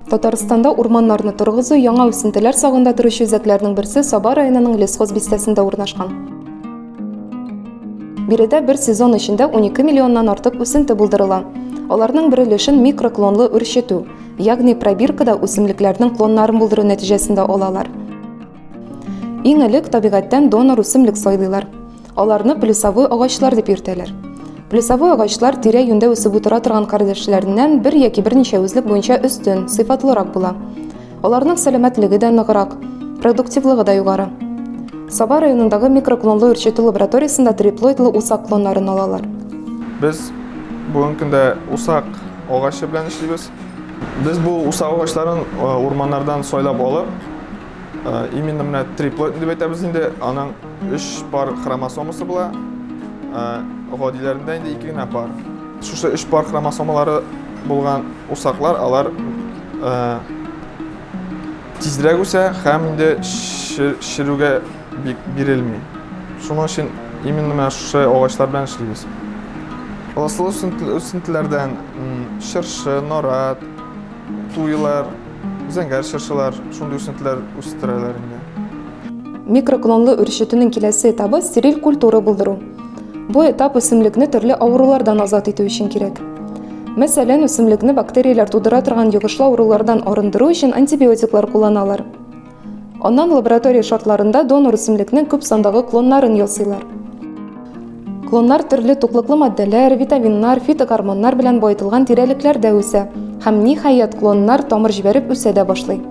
Татарстанда урманнарны торгызу яңа үсентеләр сагында торучы үзәкләрнең берсе Саба районының Лесхоз бистәсендә урнашкан. Биредә бер сезон эчендә 12 миллионнан артык үсенте булдырыла. Аларның бер өлешен микроклонлы үрчетү, ягъни пробиркада үсемлекләрнең клоннарын булдыру нәтиҗәсендә алалар. Иң элек табигатьтән донор үсемлек сайлыйлар. Аларны плюсовой агачлар дип йөртәләр. Плюсовой агачлар тирә-юньдә үсеп утыра торган кардәшләреннән бер яки берничә үзлек буенча өстен, сыйфатлырак була. Аларның сәламәтлеге дә ныграк, продуктивлыгы да югары. Саба районындагы микроклонлы үрчетү лабораториясендә триплоидлы усак клоннарын алалар. Без бүгенге көндә усак агачы белән эшлибез. Без бу усак агачларын урманнардан сайлап алып, Именно менә триплоид дип әйтәбез инде, аның 3 пар хромосомасы була. Гадиләрендә инде 2 генә пар. Шушы 3 пар хромосомалары булган усаклар, алар тизрәк үсә һәм инде ширүгә бик бирелми. Шуның өчен именно менә шушы агачлар белән эшлибез. Ласлы үсентеләрдән чыршы, нарат, туйлар, Зәңгәр чыршылар шундый үсентеләр үстерәләр инде. Микроклонлы үр чөтенең киләсе этабы стериль культура булдыру. Бу этап үсемлекне төрле авырулардан азат итү өчен кирәк. Мәсәлән, үсемлекне бактерияләр тудыра торган йогышлы авырулардан арындыру өчен антибиотиклар кулланалар. Аннан лаборатория шартларында донор үсемлекнең күп сандагы клоннарын ясыйлар. Клоннар төрле туклыклы матдәләр, витаминнар, фитогормоннар белән баетылган тирәлекләрдә үсә һәм ниһаять клоннар тамыр җибәреп үсә дә башлый.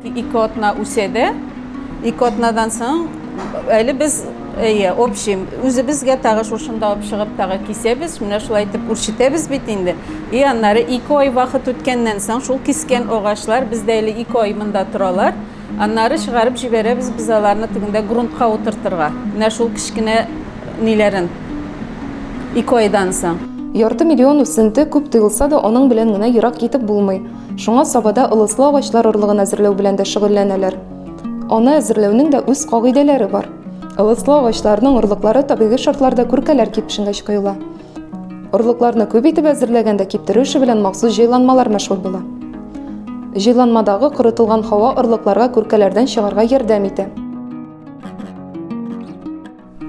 Ике атна үсә дә, ике атнадан соң әле без Әйе, общий. Үзебезгә тагы шушында ук чыгып тагы кисәбез. Менә шулай итеп үрчетәбез бит инде. И аннары ике ай вакыт үткәннән соң шул кискән агачлар бездә әле ике ай монда торалар. Аннары чыгарып җибәрәбез без аларны тегендә грунтка утыртырга. Менә шул кечкенә ниләрен. Ике айдан соң. Ярты миллион үсенте күп тоелса да, аның белән генә ерак китеп булмый. Шуңа Сабада ылыслы агачлар орлыгын әзерләү белән дә шөгыльләнәләр. Аны әзерләүнең дә үз кагыйдәләре бар. Ылыслы агачларның орлыклары табигый шартларда күркәләр кипшенгәч коела. Орлыкларны күп итеп әзерләгәндә киптерү эше белән махсус җайланмалар мәшгуль була. Җайланмадагы корытылган һава орлыкларга күркәләрдән чыгарга ярдәм итә.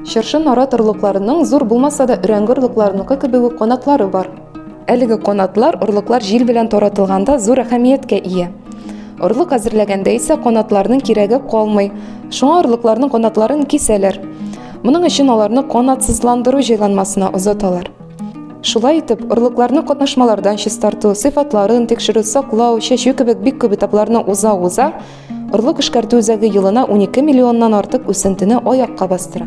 Чыршы нарат орлыкларының зур булмаса да өрәңге орлыкларыныкы кебек үк канатлары бар. Әлеге канатлар орлыклар җил белән таратылганда зур әһәмияткә ия. Орлык әзерләгәндә исә канатларның кирәге калмый. Шуңа орлыкларның канатларын кисәләр. Моның өчен аларны канатсызландыру җайланмасына озаталар. Шулай итеп, орлыкларны катнашмалардан чистарту, сыйфатларын тикшерү, саклау, чәчү кебек бик күп этапларны уза-уза, Орлык эшкәртү үзәге елына 12 миллионнан артык үсентене аякка бастыра.